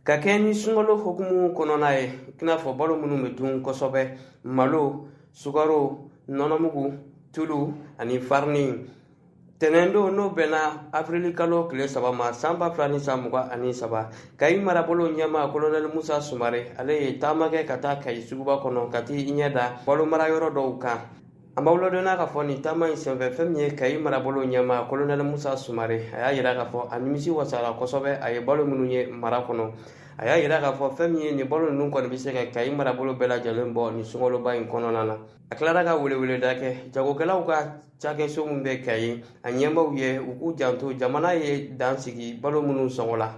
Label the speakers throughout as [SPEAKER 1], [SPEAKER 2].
[SPEAKER 1] ka kɛɲɛ ni sunkalo hukumu kɔnɔna ye i n'a fɔ balo minnu bɛ dun kosɛbɛ malo sukaro nɔnɔmugu tulu ani farini tɛnɛn don n'o bɛnna afirili kalo tile saba ma san ba fila ni san mugan ani saba kayi marabolo ɲɛmaa kolonɛli musa sumare ale ye taama kɛ ka taa kayi suguba kɔnɔ ka t'i ɲɛ da balo mara yɔrɔ dɔw kan An b'aw ladɔnniya k'a fɔ nin taama in senfɛ fɛn min ye Kayi marabolo ɲɛmaa Kolonɛli Musa Sumare a y'a yira k'a fɔ a nimisi wasara kosɛbɛ a ye balo minnu ye mara kɔnɔ a y'a yira k'a fɔ fɛn min ye nin balo ninnu kɔni bɛ se ka Kayi marabolo bɛɛ lajɛlen bɔ nin sunkaloba in kɔnɔna na a tilara ka weleweleda kɛ jagokɛlaw ka cakɛso min bɛ Kayi a ɲɛmaaw ye u k'u janto jamana ye dan sigi balo minnu sɔngɔ la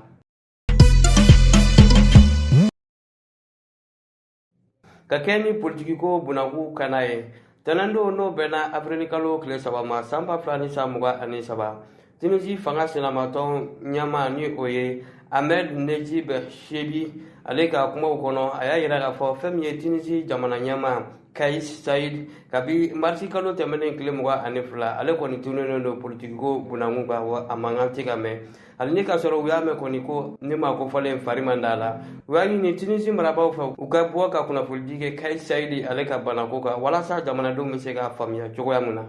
[SPEAKER 1] ka kɛ ni politikiko bunakun kan na ye tɛnɛndon n'o bɛnna afirili kalo tile saba ma san ba fila ni san mugan ani saba tunisi fanga sinamatɔn ɲɛmaa ni o ye ahmed nejib chebbi ale ka kumaw kɔnɔ a y'a yira k'a fɔ fɛn min ye tunisi jamana ɲɛmaa kais saied kabi marisi kalo tɛmɛnen tile mugan ani fila ale kɔni tununnen don politikiko bunakun kan wa a mankan tɛ ka mɛn hali ni ka sɔrɔ u y'a mɛn kɔni ko ɲɛmaa kofɔlen fari man d'a la u y'a ɲini tunisi marabaaw fɛ u ka bɔ ka kunnafonidi kɛ kais saied ale ka banako kan walasa jamanadenw bɛ se k'a faamuya cogoya min na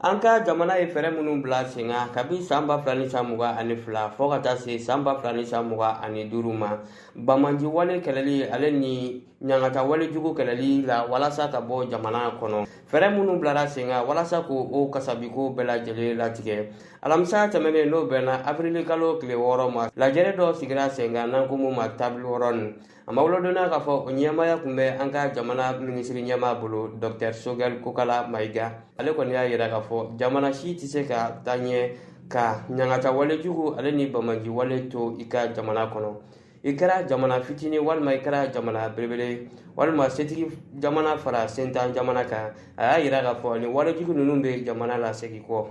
[SPEAKER 1] an ka jamana ye fɛɛrɛ minnu bila sen kan kabi san ba fila ni san mugan ani fila fɔɔ ka taa se san ba fila ni san mugan ani duuru ma banbaanci wale kɛlɛli ale ni ɲangata walejugu kɛlɛli la walasa ka bɔ jamana kɔnɔ fɛɛrɛ minnu bilara sen kan walasa k'o kasabiko bɛɛ lajɛlen latigɛ alamisa tɛmɛnen n'o bɛnna afirili kalo tile wɔɔrɔ ma lajɛrɛ dɔ sigira sen kan n'an ko mun ma table ronde an b'aw ladɔnniya k'a fɔ o ɲɛmaaya tun bɛ an ka jamana minisiri ɲɛmaa bolo dɔktɛr sogɛl kokala mayiga ale kɔni y'a yira k'a fɔ jamana si tɛ se ka taa ɲɛ ka ɲangata walejugu ale ni banbaanci wale to i ka jamana kɔnɔ i kɛra jamana fitinin walima i kɛra jamana belebele walima setigi jamana fara sentan jamana kan a y'a yira k'a fɔ nin walejugu ninnu bɛ jamana lasegin kɔ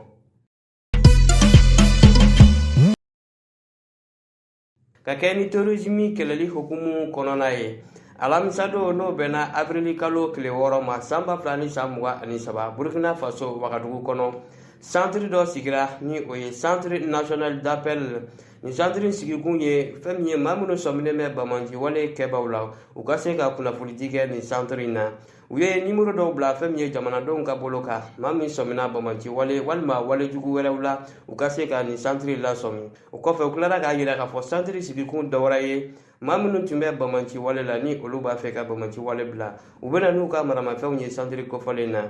[SPEAKER 1] ka kɛ ni terorisimi kɛlɛli hukumu kɔnɔna ye alamisadon n'o bɛnna abirili kalo tile wɔɔrɔ ma san ba fila ni san mugan ani saba burkina faso wagadugu kɔnɔ santiri dɔ sigira ni o ye centre national d'appel Nin santiri sigikun ye fɛn min ye maa minnu sɔminen bɛ banbaanciwale kɛbaw la u ka se ka kunnafonidi kɛ nin santiri in na u ye nimoro dɔw bila fɛn min ye jamanadenw ka bolo kan maa min sɔmina banbaanciwale walima walejugu wɛrɛw la u ka se ka nin santiri lasɔmi o kɔfɛ u tilara k'a yira k'a fɔ santiri sigikun dɔwɛrɛ ye maa minnu tun bɛ banbaanciwale la ni olu b'a fɛ ka banbaanciwale bila u bɛna n'u ka maramafɛnw ye santiri kofɔlen na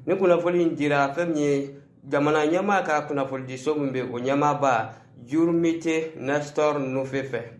[SPEAKER 1] ni kunnafoni in dira fɛn min ye jamana ɲɛmaa ka kunnafonidiso min bɛ o ɲɛmaaba jurumite nestor nufe fɛ